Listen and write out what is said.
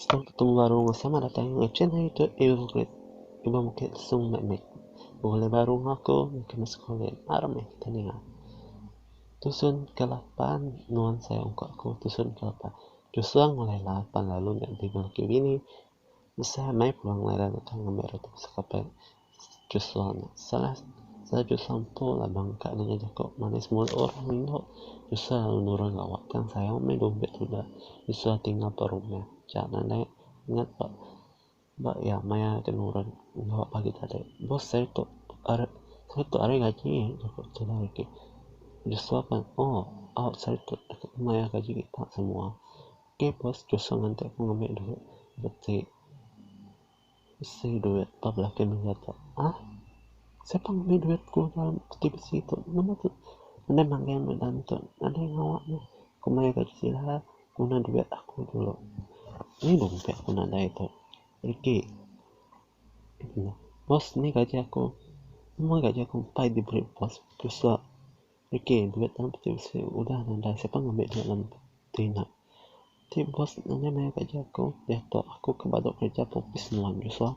Stang ketumu baru enggau sama datai enggau chin hari tu ibu bukit ibu bukit lesung meh mit bulai baru enggau aku ke meh sekula aram meh kita ninga tusun ke lapan nuan sayau ungkup aku tusun ke lapan. Tusung meh Laila pan lalu nya ditiga laki bini. Tusah meh pulang Laila ngetan ngambi roti besai kape Tusung nya. Salah salah Tusung empu la bang ka nya nyau jaku manis mulu orang indu. Tusah lalu nurun lawa tang sayau meh dumbe tuda. Tusah tinggal ba rumah. Cha nadai ingat ba. Ba iya maya ti nurun enggau pagi tadi, bos ari tu ari seri tu ari gaji ku tudah agi. Joshua pan oh au seri tu mayar gaji kita semua. Ok bos Joshua nganti aku ngambi duit reti besi duit ba bala keluarga tu. Hah siapa ngambi duit ku dalam peti besi tu nama tu nadai magang dalam tu nadai ngawa ne ku mayar gaji sida. Guna duit aku dulu. Ni dompet aku nadai tu. Reti. Bos ni gaji aku. Semua gaji aku empai diberi bos. Tusa. Reti duit dalam peti besi udah nadai. Siapa ngambi duit dalam peti nya. Ti bos nadai mayar gaji aku. Diatu aku ke badu kerja ke opis nuan. Tusa.